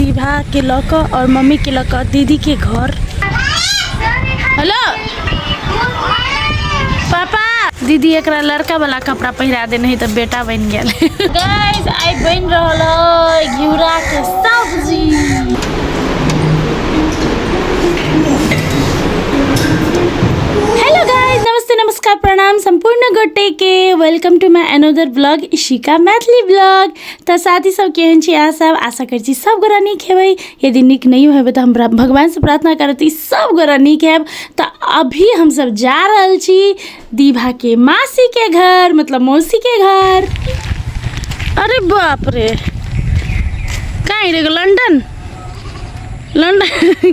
प्रतिभा के लऽ कऽ आओर मम्मी के लऽ कऽ दीदी के घर हेलो पापा दीदी एकरा लड़का वाला कपड़ा पहिरा देने है तऽ बेटा बनि गेल गाइस आइ बनि रहल है घिउरा के सब्जी हेलो गाइस नमस्ते नमस्कार प्रणाम सम्पूर्ण गोटे के welcome to my another blog Ishika Maithili blog तऽ साथी सब केहन छी अहाँ सब आशा करै छी सब गोरा नीक हेबै यदि नीक नहि हेबै तऽ हमरा भगवानसँ प्रार्थना करब तऽ ई सब गोरा नीक हैब तऽ अभी हमसब जा रहल छी दीभाके मासीके घर मतलब मौसीके घर अरे बाप रे कहाँ हिँडेको लन्डन लन्डन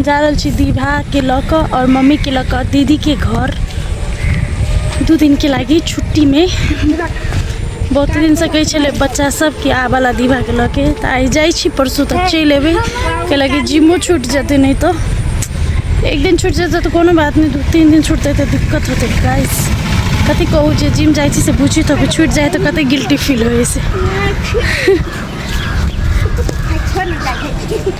जा रहल छी दीभाके लऽ कऽ आओर मम्मीके लऽ कऽ दीदीके घर दू दिनके लागि छुट्टीमे बहुत दिनसँ कहै छलै बच्चा सब कि आबऽला दीभाके लऽ के तऽ आइ जाइ छी परसू तक चलि एबै के लागि जिमो छूटि जेतै नहि तऽ एक दिन छूटि जेतै तऽ कोनो बात नहि दू तीन दिन छूटतै तऽ दिक्कत होतै गाइस कथी कहू जे जिम जाइ छी से बुझी तऽ छूटि जाइ तऽ कतेक गिल्टी फील होइ छै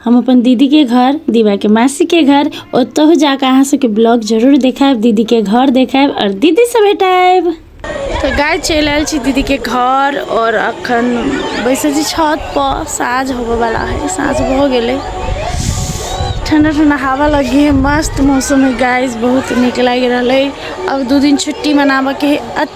हम अपन दीदी के घर दीवा के मासी के घर ओतहु जाके अहाँ सबके ब्लॉग जरूर देखायब दीदी के घर देखायब और दीदी से भेटायब तो गाय चलि आयल छी दीदी के घर और अखन बैसल छी छत पर साँझ होबे वाला है साँझ भऽ गेलै ठंडा ठंडा हवा लगी है मस्त मौसम है गाइस बहुत नीक लागि रहल है अब दू दिन छुट्टी मनाबऽ के है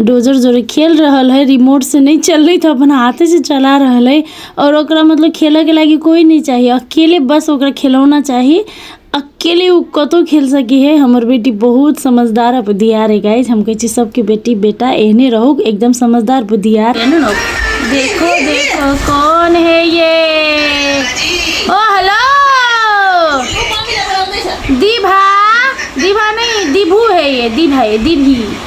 डोजर जोरे खेल रहल हइ रिमोट से नहि चललै तऽ अपन हाथे से चला रहल हइ आओर ओकरा मतलब खेलऽके लागी कोइ नहि चाही अकेले बस ओकरा खेलौना चाही अकेले ओ कतौ खेल सकै हइ हमर बेटी बहुत समझदार आओर बुधियार हइ गाइज हम कहै छी सबके बेटी बेटा एहने रहू एकदम समझदार बुधियार देखो देखो कौन है ये ओ हेलो दीभा दीभा नहीं दीभू है ये दीभा ये दीभी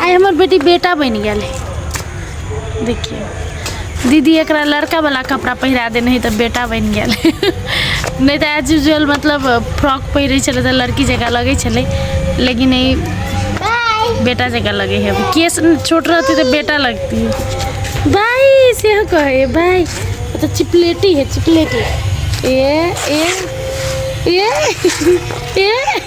आइ हमर बेटी बेटा बनि गेल है देखियौ दीदी एकरा लड़कावला कपड़ा पहिरा देने है तऽ बेटा बनि गेल है नहि तऽ एज यूजल मतलब फ्रॉक पहिरै छलै तऽ लड़की जकाँ लगै छलै लेकिन ई बेटा जकाँ लगै है अब केस छोट रहतै तऽ बेटा लगती बाय सेहो कहै है बाय ओ तऽ चिपलेटी है चिपलेटी ए ए ए ए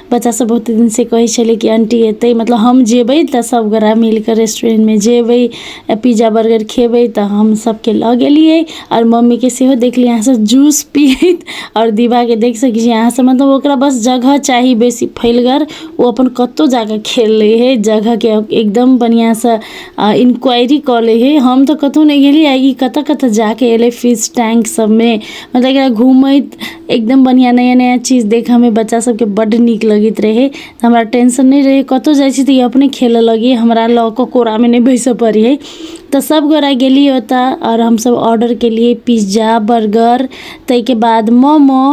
बच्चासभ बहुत दिनसँ कहै छलै कि आंटी एतै मतलब हम जेबै तऽ सभगोटए मिलि कऽ रेस्टुरेंटमे जेबै आ पिज्जा बर्गर खेबै तऽ हम सभकेँ लऽ गेलियै आओर मम्मीकेँ सेहो देखलियै अहाँसँ जूस पीयैत आओर दिबाके देख सकै छियै अहाँसभ मतलब ओकरा बस जगह चाही बेसी फैलगर ओ अपन कतहु जा कऽ खेल लैत हइ जगहके एकदम बढ़िआँसँ आ इन्क्वायरी कऽ लैत हइ हम तऽ कतहु नहि गेलियै ई कतय कतय जा कऽ अयलै फिश टैंक सभमे मतलब एकरा घूमैत एकदम बढ़िआँ नया नया चीज देखयमे बच्चासभके बड्ड नीक लगैत रहय हमरा टेंशन नहि रहय कतहु जाइ छी तऽ ई अपने खेलय लगैए हमरा लऽ कऽ कोरामे नहि बैसय पड़ैए तऽ सभगोटए गेलियै ओतय आओर हमसभ ऑर्डर केलियै पिज्जा बर्गर ताहिके बाद मोमो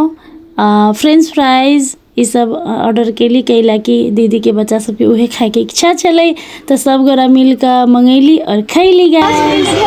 आ फ्रेंच फ्राइज ईसभ ऑर्डर कयली कै लए कि दीदीके बच्चा सभके उहे खायके इच्छा छलै तऽ सभ गोरा मिल कऽ मंगैली आओर खैली गाय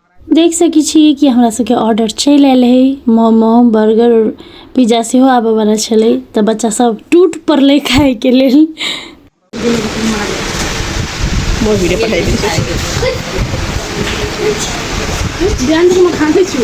देख सकै छियै कि हमरा सबके ऑर्डर चलि आयल है मोमो बर्गर पिज्जा सेहो आबऽ वाला छलै तऽ बच्चा सब टूट पड़लै खाय के लेल मोर वीडियो पठाई दी ध्यान से मखान से छू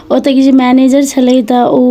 ओतऽ के जे मैनेजर छलै तऽ ओ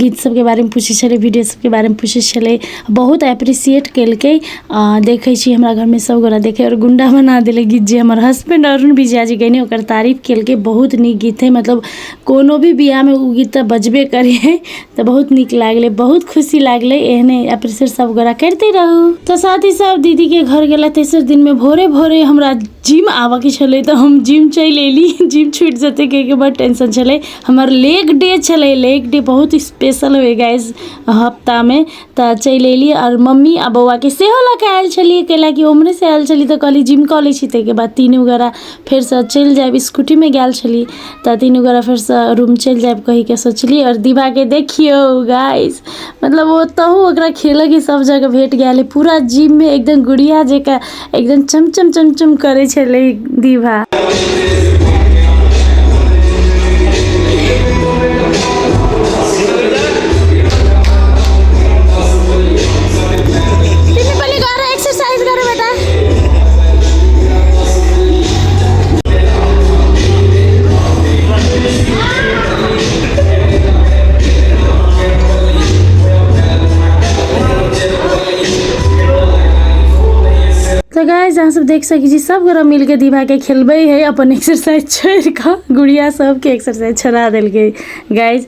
गीत सबके बारेमे पूछै छलै वीडियो सबके बारेमे पूछै छलै बहुत एप्रिसिएट केलकै आओर देखै छी हमरा घरमे सबगोरा देखैए आओर गुण्डा बना देलकै गीत जे हमर हसबैण्ड अरुण विजया जे गएने ओकर तारीफ केलकै बहुत नीक गीत हइ मतलब कोनो भी बिआहमे ओ गीत तऽ बजबे करै हइ तऽ बहुत नीक लागलै बहुत खुशी लागलै एहने एप्रिसिएट सबगोरा करिते रहू तऽ साथ ही साथ दीदीके घर गेला तेसर दिनमे भोरे भोरे हमरा जिम आबऽके छलै तऽ हम जिम चलि अएली जिम छुटि जेतै कहैके बड़ टेन्शन छलै हमर लेग डे छलै लेग डे बहुत स्पेशल होइ गाइज हप्तामे तऽ चलि अएली आओर मम्मी आओर बौआके सेहो लऽ कऽ आएल छलिए कएलाकि ओ ओम्हरेसँ आएल छलै तऽ कहलिए जिम कऽ लै छी ताहिके बाद तीनू गोरा फेरसँ चलि जाएब स्कूटीमे गेल छली तऽ तीनू गोरा फेरसँ रूम चलि जायब कहि कऽ सोचलियै आओर दिवाके देखियौ गाइस मतलब ओतहु ओकरा खेलयके सभ जगह भेट गेलै पूरा जिममे एकदम गुड़िया जकाँ एकदम चमचम चमचम करै छलै दिवा एक्सरसाइज करो बेटा तो गाइज अहाँ सब देख सकै छी सब गोरा मिलके दीवा के खेलबे है अपन एक्सरसाइज छोड़ के गुड़िया सबके एक्सरसाइज छोड़ा दिल गई गाइज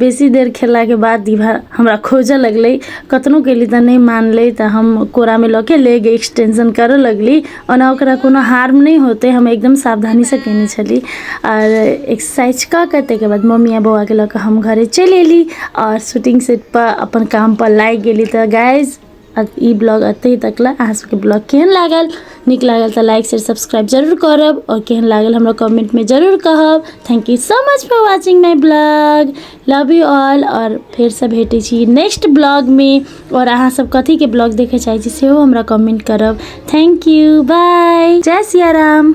बेसी देर खेलला के बाद दीवा हमरा खोजऽ लगलै कतनो केली तऽ नहि मानलै तऽ हम कोरामे लऽ के लेग एक्सटेंशन करऽ लगली ओना ओकरा कोनो हार्म नहि होतै हम एकदम सावधानीसँ केने छली आओर एक्सरसाइज कऽ कऽ ताहिके बाद मम्मी आओर बौआके लऽ कऽ हम घरे चलि अयली आओर शूटिंग सेटपर अपन कामपर लागि गेली तऽ गाइज ई ब्लॉग एतहि तक लए अहाँ सबके ब्लॉग केहन लागल नीक लागल तऽ लाइक शेयर सब्सक्राइब जरूर करब आओर केहन लागल हमरा कमेंटमे जरूर कहब thank you so much for watching my blog love you all आओर फेरसँ भेटै छी नेक्स्ट ब्लॉगमे आओर अहाँसभ कथीके ब्लॉग देखय चाहै छी सेहो हमरा कमेंट करब थैंक यू बाय जय सिया राम